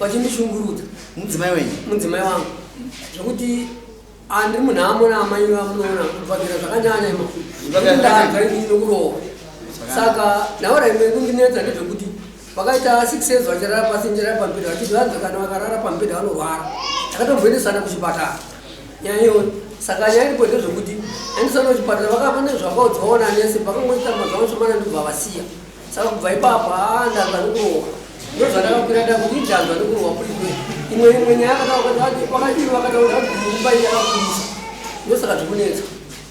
vachindishungurudza mudzimai wenyu mudzimai wangu zvekuti andiri munhu amona amai vamunoona kuvagira zvakanyanya imakurowa saka naora imwe kundinetsa ndezvekuti Vakaita six years vachirara pasi njira pambhedha vachiti vanzi kana vakarara pambhedha vanorwara. Takatomboendesana kuchipatara. Nyaya iyoyo. Saka nyaya iripo ndezvekuti endesana kuchipatara vakapa nezvakaudzwawo nanesi pakangoita mazvavo shomana ndobva vasiya. Saka kubva ipapo haa ndanzwa nekurohwa. Ndozvandakakwira nda kuti ndanzwa nekurohwa kulikwe. Imwe imwe nyaya akataura kuti vakati vakataura kuti mumba iyi yakakurisa. Ndosaka zvikunetsa.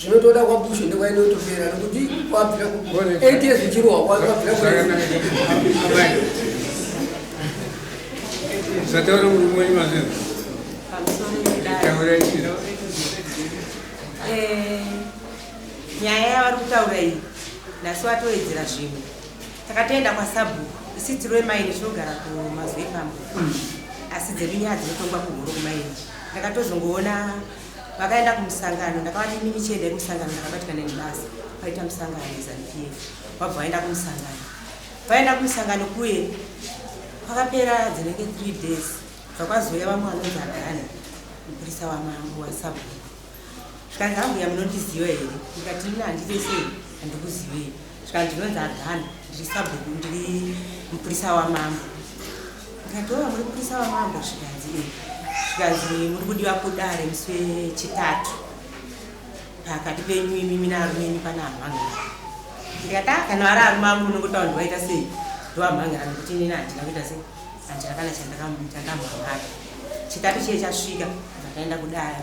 zvinotoda kwabushu ndekwainotopera nekuti kwabvira eight years ichirohwa kwabvira zvataura murume wenyu mazvino taura chii eh, nyaya yavari kutaura iyi nhasi watowedzera zvimwe takatoenda kwasabhuku isi tiri wemaini tinogara kumazwepambo hmm. asi dzedu nyaya dzinotongwa kuhuru kumaini ndakatozongoona vakaenda kumusangano ndakavati imimi chiendai kumusangano ndakabatikana nebasa vaita musangano nezanupf vabva vaenda kumusangano vaenda kumusangano kuye kwakapera dzinenge three days zvakwazouya vamwe vanonzi agani mupurisa wamambo wasabhuya zvikanzi ambuya munondiziva here ndikati ina handitesei handikuzivei Zvikanzi ndinonzi Adhani, ndiri sabhuku, ndiri mupurisa wamambo. Ndikati oh, muri mupurisa wamambo? Zvikanzi eh. Zvikanzi muri kudiwa kudare musi wechitatu pakati penyu imimi nearume enyu pane amhangera. Ndikati ah, kana vari arume angu unongotaura kuti waita sei? Ndovamhangera nekuti inini handina kuita sei, handina kana chandakamuita ndamhangara. Chitatu chiye chasvika ndakaenda kudare,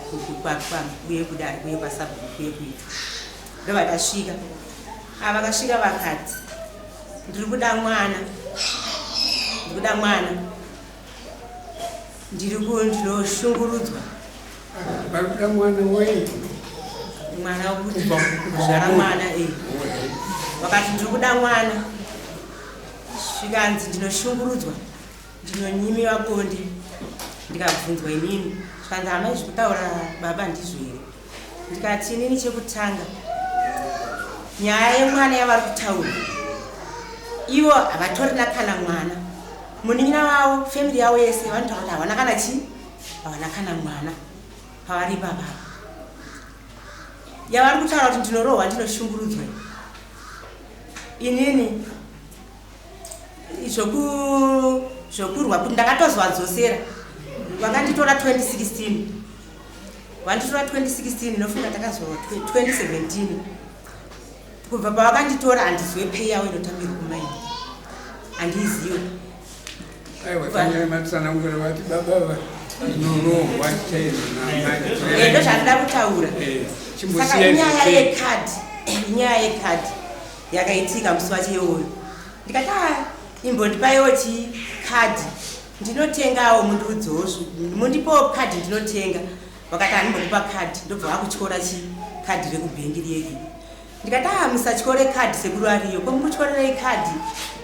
kuye kudare, kuye kwasabhuku, kuye kuita ndovakasvika ah, vakasvika vakati ndiri kuda mwana ndiri kuda mwana ndiri ndinoshungurudzwa vakuda mwana wei mwana wekuzvara mwana e vakati ndiri kuda mwana zvikanzi ndinoshungurudzwa ndinonyimiwa bonde ndikabvunzwa inini zvikanzi hamai zvekutaura baba ndizvo here ndikati inini chekutanga nyaya yemwana yavari kutaura ivo havatorina kana mwana munin'ina vavo family yavo yese vanotaura kuti havana kana chii havana kana mwana pavari ipapapa yavari kutaura kuti ndinorohwa ndinoshungurudzwa inini zvokurwa kuti ndakatozwa dzosera vakanditora 2016 Wanditora 2016 inofunga takazorwa 2017 kubva pavakanditora handizwe pay yawo inotambirwa kumaini handiiziwe ndo zvandida kutaura eh, saka inyaya yekadhi inyaya yekadhi yakaitika musi wacho iwoyo ndikati ah, imbondipaiwo chikadhi ndinotengawo mundiudzewo mundipawo kadhi ndinotenga vakati hanimbokupa kadhi ndobva vakutyora chi kadhi rekubhengi riyeki ndikati aa ah, musatyore kadhi sekuru ariyo ko mukutyorerei kadhi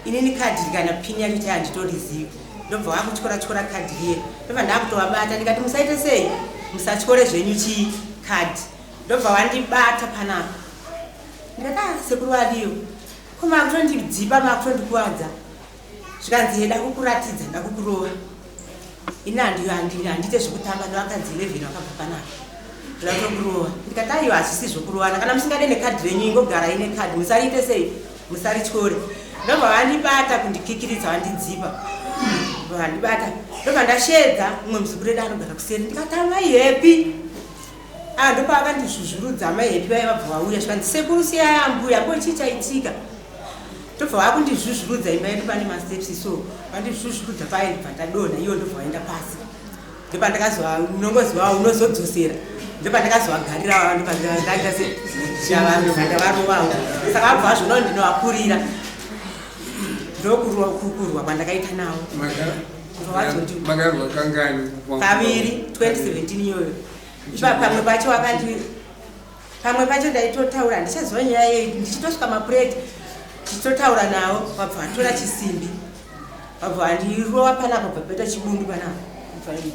inini kadhi rikana pini yacho tai handitorizivi ndobva vakutyora tyora kadhi riye ndobva ndakutovabata ndikati musaite sei musatyore zvenyu chi kadhi ndobva vandibata panapa ndikati aa ah, sekuru ariyo ko makutondidzipa makutondikuwadza zvikanzi heda kukuratidza ndakukurova ini handiyo handiite zvekutamba nevakadzi 11 vakabva panaka zvakukurova ndikati aiyo hazvisi zvokurovana kana musingade nekadhi renyu ingogara ine kadhi musariite sei musarityore ndobva vandibata kundikikiridza vandidzipa vandibata ndobva ndashedza umwe muzukuru edu anogara kuseri ndikati amai hepi Ah ndopaakandizvuzvurudza amai Happy vaya vabva vauya zvikanzi sekuru siyai ambuya ko chii chaitika ndobva vakundizvuzvurudza imba yedu pane masteps so vandizvuzvurudza paye ndibva ndadonha iyo ndobva vaenda pasi ndopandakazoa unongoziva unozodzosera ndopandakazovagarira vava ndopandakaita se ndavarovawo saka vabva vazvona ndinovakurira ndokukurwa kwandakaita navo vavazoti kaviri 2017 iyoyo ipa pamwe pacho wakandi pamwe pacho ndaitotaura handichaziva nyaya yei ndichitosvika mapureti ndichitotaura nawo vabva vanditora chisimbi vabva vandirova panapa bva paita chibundu panapa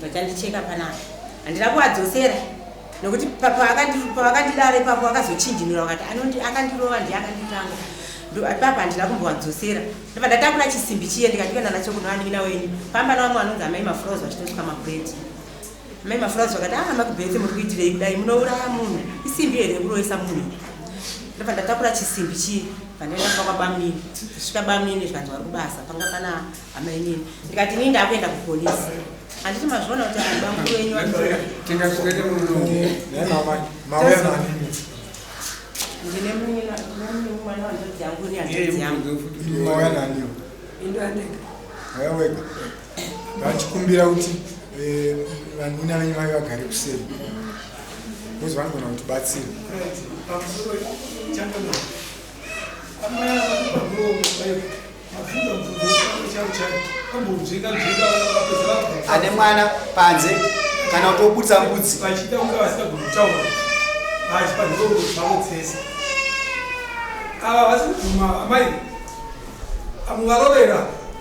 vachandicheka panapa handina kuvadzosera nokuti pavakandidara ipapo vakazochinjinura vakati anondi akandirova ndiye akanditanga ipapa handina kumbovadzosera ndobva ndatakura chisimbi chiye ndikatikuenda nacho kunovanin'ina wenyu pamba navamwe vanonzi amai mafrows vachitosvika mapureti Mai Mafurazi vakati ah makubhete muri kuitirei kudai munouraya munhu isimbi here yekuroyesa munhu ndobva ndatakura chisimbi chii pandaenda kuba kwabamini kusvika bamini zvikanzi vari kubasa panga pana amainini ndikati inini ndakuenda kupolisi handiti mazviona kuti abamkuru wenyu ndine mwana wandodziyangu ni handodziyangu vachikumbira kuti eh, vanina venyu vave vagare kuseri bcause vanogona kuti batsira ane mwana panze kana kuti obudisa mbudzi vachida kunge vasina kutaura asi panhoo zvavo dzese ava vasi kubvuma amai amuvarovera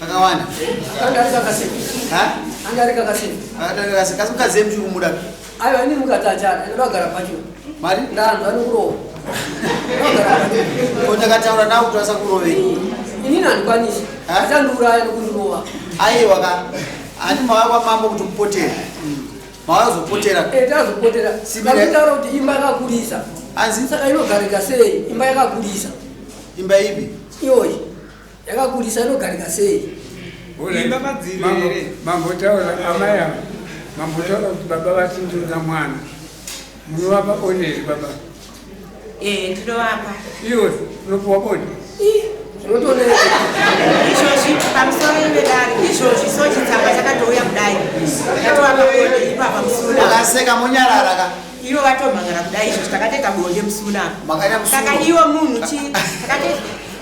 Kakawanda. Kanga kakasema. Ha? Kanga kakasema. Kanga kakasema. Kasi mkaze mchuru muda. Ayo ani mukatachana. Ndo gara pacho. Mari? Ndando ani kurowa. Ko takataura nawo kuti vasakurove. Ini nandikwanisi. Achandiuraya nokundirova. Aiwa ka. Ani mawaya kwa mambo kuti mupotera. Mawaya kuzopotera. Eh, tazopotera. Vakutaura kuti imba yakakurisa. Anzi? Saka inogarika sei? Imba yakakurisa. Imba ipi? Iyoyi. yakakurisa inogarika sei Imba madziri Mambo- here? mambotaura amai ava mambotaura kuti baba vatindoda mwana munovapa oneri baba Eh, tinovapa iwe unopiwa boni zvinotoona izvozvi pamusoro ivedari izvozvi so chitsamba chakatouya kudai ndatovapaone ipapa musoro Akaseka monyarara ka. Ivo vatomhangara kudai izvo takateka bonde musi munaa saka ivo munhu chi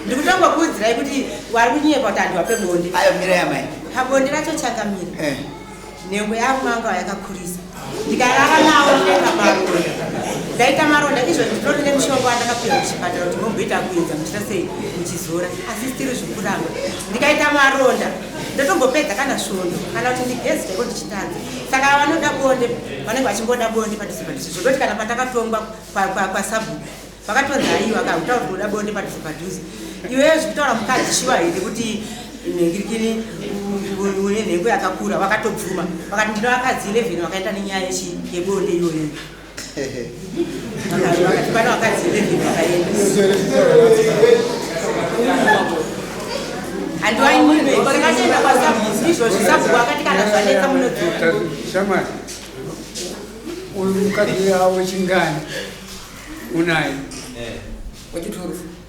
ndikutongokuudzirai kuti wari kunyepa kuti andiwa pebonde ayo mira yamai pabonde racho chakamira eh. nhengo yavo manga yakakurisa ndikarara nawo ndenga maronda ndaita maronda izvo ndinoti nemushonga wandakapiwa kuchipatara kuti momboita kuedza muchita sei muchizora asi stiri zvikuramba ndikaita maronda ndotombopedza kana svondo kana kuti ndigezi chaiko ndichitadza saka vanoda bonde vanenge vachingoda bonde padhuze padhuze zvekutoti kana patakatongwa kwasabhuku vakatonzi haiwa ka kutaura kuti unoda bonde padhuze padhuze iweyo zvekutaura mukadzi shuwa here kuti nhengirikini une nhengo yakakura vakatobvuma vakati ndino vakadzi 11 vakaenda nenyaya yebonde iyoyo Shamari, uyu mukadzi awo chingani unaye wachiturufu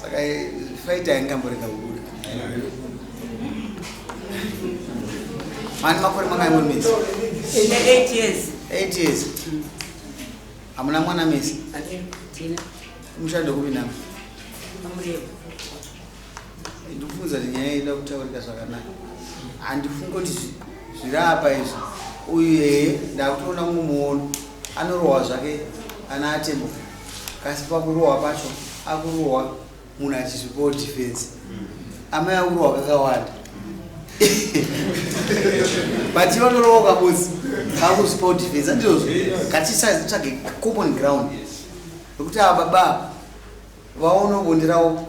saka fight aingamborega kubuda mani makore mangai muri misi eight years eight years hamuna mwana misi mushando kupi nama ndikufunza kuti nyaya ida kutaurika zvakanaka handifungi kuti zviri apa izvi uyu yeye ndakutoona mumwe muono anorohwa zvake ana atembo kasi pakurohwa pacho akurohwa munhu achizvipawo defense amai akurohwa kakawanda but iva ndorohwa kabosi kakuzvipawo defense andizvozvo katisazitsvage common ground nokuti ava baba vaonobonderawo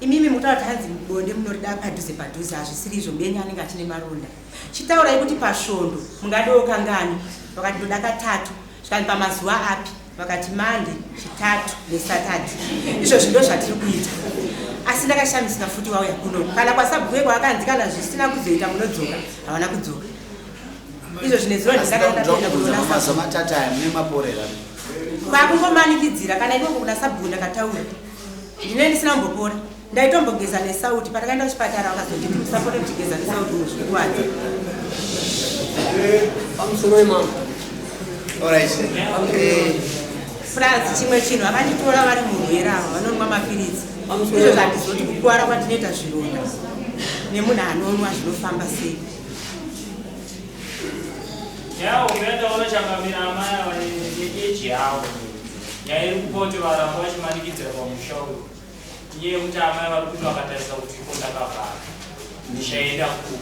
Imimi mutaura kuti hanzi bonde munorida padhuze padhuze hazvisiri izvo mbenyu anenge achine maronda. Chitaurai kuti pasvondo mungadewo kangani vakati ndoda katatu zvikanzi pamazuva api vakati mande chitatu nesatadhi izvozvi ndo zvatiri kuita asi ndakashamisika futi wauya kuno kana kwasabhuye kwaakanzi kana zvisina kuzoita munodzoka havana kudzoka izvo zvine ziro ndizakaaaamatata aya mune maporera kwakungomanikidzira kana ikoko kuna sabhuku ndakataura ndine ndisina mbopora ndaitombogeza nesauti patakaenda kuchipatara vakazoti timusapore kuchigeza nesauti muzvikuwadza pamusoro wemama Alright. Eh, plus chimwe chinhu vakanditora vari murwere ava vanonwa mapiritsi Pamusoro. izvo zvandizoti kukwara kwandinoita zvironda nemunhu anonwa zvinofamba sei Yawo umeenda unochangamira amai ava neeji yawo. Nyaya iri kupa kuti varamba vachimanikidzira pamusha uyu inyaya yekuti amai vari kuti vakatarisa kuti iko ndakavhara ndichaenda ku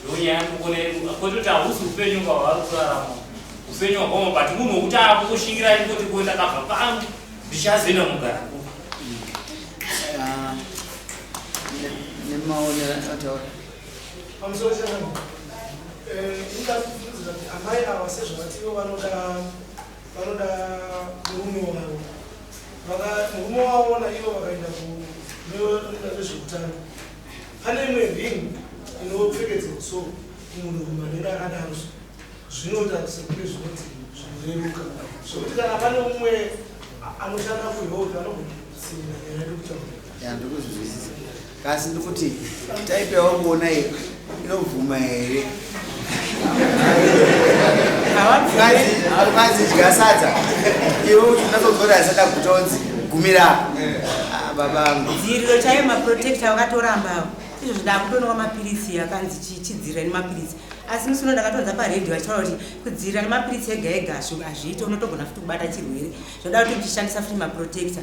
ndo nyaya ndokona kwete kuti hausi upenyu kwavari kurarama upenyu hwakoma but munhu wekuti akushingira ikoti ko ndakabva pangu ndichazoenda mugara ku nemaonera ataura pamusoro changu eh, inga amai ava sezvavativo vanoda vanoda murume wavo murume wavo naivo vakaenda kunoita zvezveutano pane imwe ring inopfekedzwa so munhu rume anenge akadaro zvinoita sekune zvinoti zvinoreruka zvokuti kana pane umwe anoshanda kuhealth anogona kusiira nyaya yekutaura Kasi ndikuti type yawanguona iyi inobvuma here? Havanzi dya sadza iwe kuti unatotora asada kutonzi gumira ah, babangu. Dziriro chaiyo maprotector wakatoramba awo izvo zvidakutonwa mapiritsi akanzi chichidzirira nemapiritsi asi musi uno ndakatonza paredhi vachitaura kuti kudzivirira nemapiritsi ega ega hazviite unotogona futi kubata chirwere zvoda kuti uchishandisa futi maprotector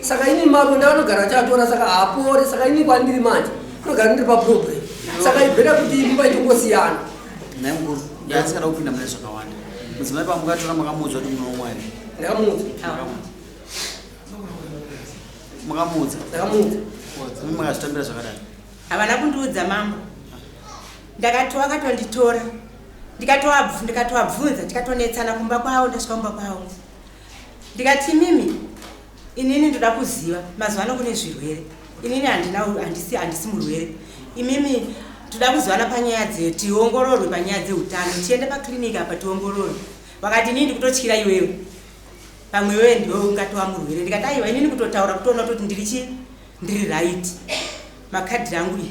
saka ini maronda anogara achatora saka haapore saka ini kwandiri manje anogara ndiri paproblem saka ibhera kuti imba itongosiyana nhai mukuru ndaasikada kupinda mune zvakawanda mudzimai pamukatora makamuudzwa kuti munoumwa here ndakamuudza makamuudza ndakamuudza imi makazvitambira zvakadai havana kundiudza mambo ndakatova akatonditora ndikatoabvunza ndikatonetsana kumba kwavo ndasvika kumba kwavo Ndikati imimi inini ndoda kuziva mazuva ano kune zvirwere inini handina handisi handisi murwere imimi toda kuzivana panyaya dzeyo tiongororwe panyaya dzeutano tiende paclinic apa tiongororwe vakati inini ndikutotyira iwewe pamwe iwewe ndiwe ungatova murwere ndikati aiwa inini kutotaura kutoona kutoti ndiri chii ndiri right makadhi rangu iyi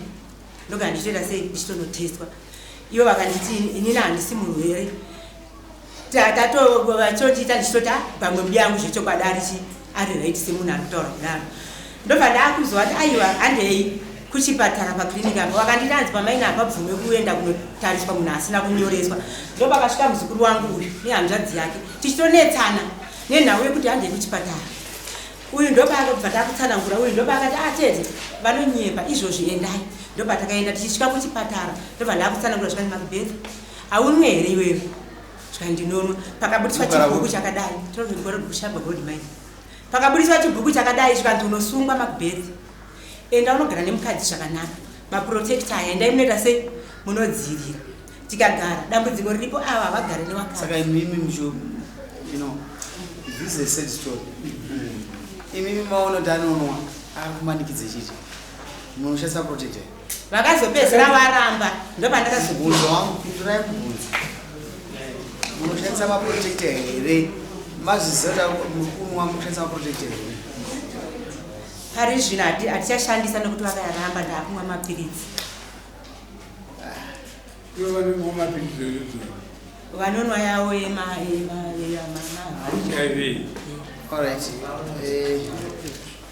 ndogara ndichitoita sei ndichitonotestwa ivo vakanditi inini handisi murwere tatovachochiita ndichitota pamwe mbuya yangu zvechokwadi arichi ari right semunhu ari kutaura kudaro ndobva ndaakuziva kuti aiwa handei kuchipatara pakliniki apa vakanditi hanzi pamaina hapabvume kuenda kunotariswa munhu asina kunyoreswa ndoba kasvika muzukuru wangu uyu nehanzvadzi yake tichitonetsana nenhau yekuti handei kuchipatara uyu ndoba akabva takutsanangura uyu ndoba akati atete ah, vanonyepa izvozvi endai ndoba takaenda tichisvika kuchipatara ndobva ndakutsanangura zvikanzi makubhedha Haunwe here iwewe? Zvika ndinonwa. Pakabudiswa chibhuku chakadai. Tinozi gore kushamba gold mine. Pakabudiswa chibhuku chakadai zvikanzi unosungwa Macbeth. Enda unogara nemukadzi zvakanaka. Maprotector aya endai munoita sei? Munodzivira. Tikagara dambudziko riripo ava havagare newakati. Saka imimi mjo you know this is a sad story. Imimi maona kuti anonwa akumanikidze chiti. Munoshandisa protector. vakazopedzera varamba ndopandakazobvunza wangu pindurai mubvunzo munoshandisa maprotecta here mazvizota mukunwa munoshandisa maprotecta here pari zvino hatichashandisa nekuti vakayaramba ndaakumwa mapiritsi vanonwa yawo yemaaaiv eh,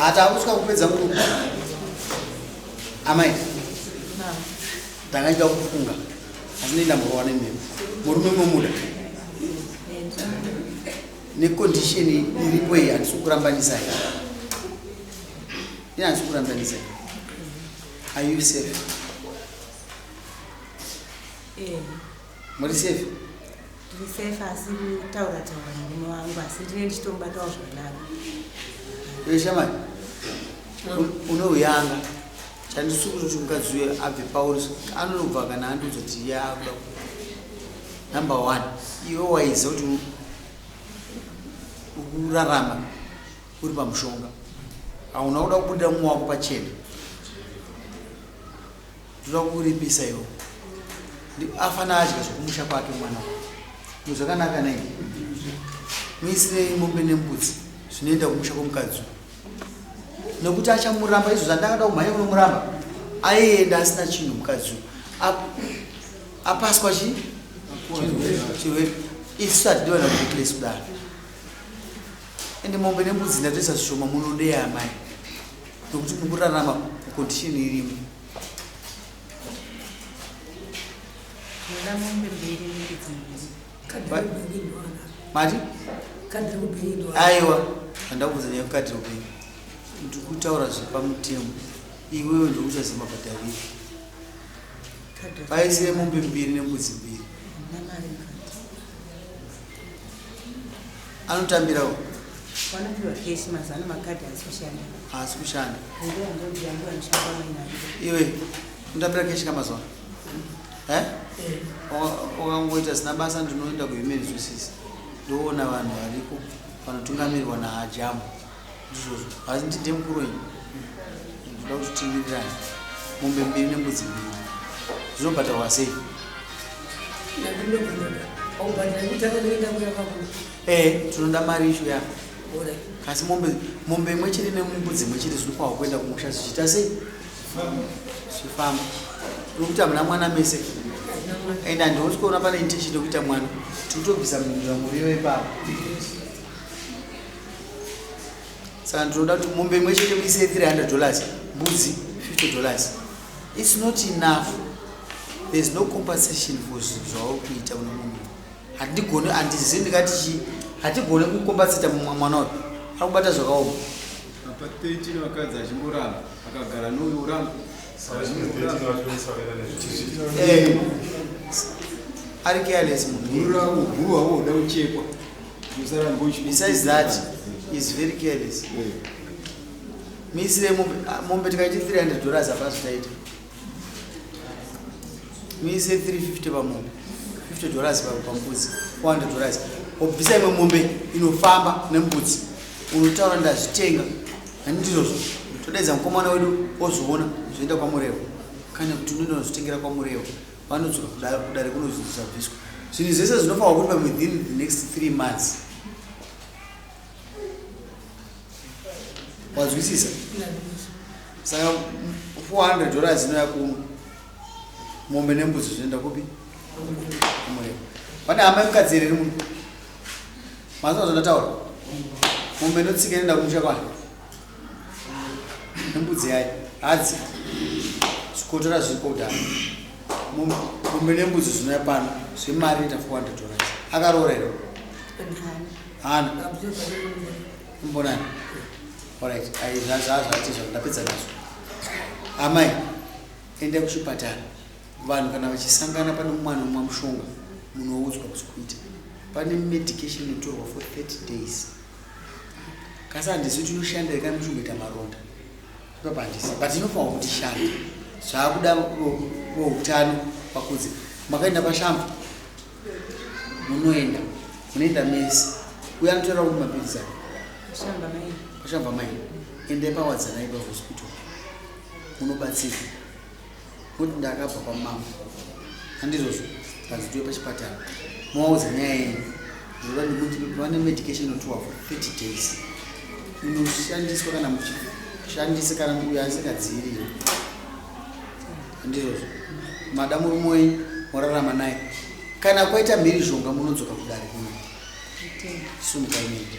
hatakusvika kupedza nguva amai tangaita kufunga asi nenda murova nemimi murume momuda nekondisheni iripo iyi handisi kurambanisa i ini handisi kurambanisa i are you safe yeah. Muri safe? Tiri safe asi kutaura taura murume wangu asi ndine ndichitobatawo zvakanaka. Iwe shamani. Unouyanga. Chandisukuru kuti mukadzi uye abve pauri anobva kana andiudza kuti iye akuda number one iwe waiza kuti ukurarama uri pamushonga hauna kuda kubuda mumwe wako pachena Ndoda kukuripisa iwo. Afana adya zvekumusha kwake mwana uyu. Zvinhu zvakanaka nei? Muisirei mombe nembudzi zvinoenda kumusha kwemukadzi uyu. Nekuti achamuramba izvo zvandakada kumhanya kunomuramba. Aienda asina chinhu mukadzi uyu. Ap- Apaswa chi? Chirwere. Isu hatidi vana kureplace kudaro. Ende mombe nembudzi ndatoisa zvishoma munodei amai. nokuti muri kurarama kukondisheni irimo Ndoda mombe mbiri nembudzi mbiri. mati aiwa handida kuudza nyaya yekukati upenyu ndi kutaura zvepamutemo iwewe ndokuchazima padaviri paisire mombe mbiri nembudzi mbiri Hamuna mari mukati. anotambirawo vanopihwa cash mazano makadhi haasi kushanda haasi kushanda iwe unotambira cash kamazuva eh? wakangoita zina basa ndinoenda kuhuman resources ndoona vanhu variko vanotungamirwa nahajamu izvozvo asi ndi ndiye mukuru wenyu ndoda kuti tiwirirane mombe mbiri nembudzi mbiri zvinobhadharwa sei ee tinoda mari isho yako kasi mombe mombe imwe chete nembudzi imwe chete zvinokwawa kuenda kumusha zvichiita sei zvifamba uri kuti hamuna mwana mese and handioni kuona pane intention yekuita mwana tiri kutobvisa mhindura muriyo ipapo saka ndinoda kuti mombe imwe chete muise 300 dollars mbudzi 50 dollars its not enough thereis no compensation for zvinhu zvauri kuita kune munhu handigoni handizi ndikati chi hatigone kukombasita mumwe mwana uyu akubata zvakaoma apa 13 vakadzi achimboramba akagara nouyo uramba eh, ari careless munhu urawo guwa woda uchekwa Besides that, he's very careless. Miisire mombe, ah, mombe tikaiti 300 dollars hapana zvitaita. Miise 350 pamombe, 50 dollars pa- pambudzi, 400 dollars. Obvisa imwe mombe inofamba nembudzi, unotaura ndazvitenga, hani ndizvozvo. Todaidza mukomana wedu ozviona zvoenda kwaMurewa, kana kuti unoenda unozvitengera kwaMurewa. vanodzoka kudare kudare kunonzi dzisabviswa zvinhu zvese zvinofanirwa kuitwa within the next three months wazwisisa saka 400 dollars inoya kuno mombe nembuzi zvinoenda kupi kumurema pane hama yemukadzi here ri muno mazvina zvandataura mombe inotsika inoenda kumusha kwana nembudzi yayo hadzi zvikotora zviri kudhara mumbe nembudzi zvinoya pano zvemari ita 400 dollars akaroora here hana imbonani orit zvazvati zva ndapedza nazvo amai endai kuchipatara vanhu kana vachisangana pane mwana umwa mushonga munoudzwa kuzi kuita pane medication inotorwa for 30 days kasi handisu tinoshanda here kana muchingoita maronda ipapa handisi but inofanwa kuti shanda zvaakuda veutano vakudze makaenda pashambo munoenda munoenda mese uye anotoera kuti mapirizi pashambo amai endai pawadzanai pahospital munobatsirwa Kuti ndakabva kwamama handizvozvo ndazitiwe pachipatara movaudza nyaya yenyu zvoda ndikuti vane medication inotiwa for 30 days inoshandiswa kana muchishandisa kana uyo asikadziirire handizvozvo mada murume wenyu morarama naye kana kwaita mhirizhonga munodzoka kudare kuno sumukaimedi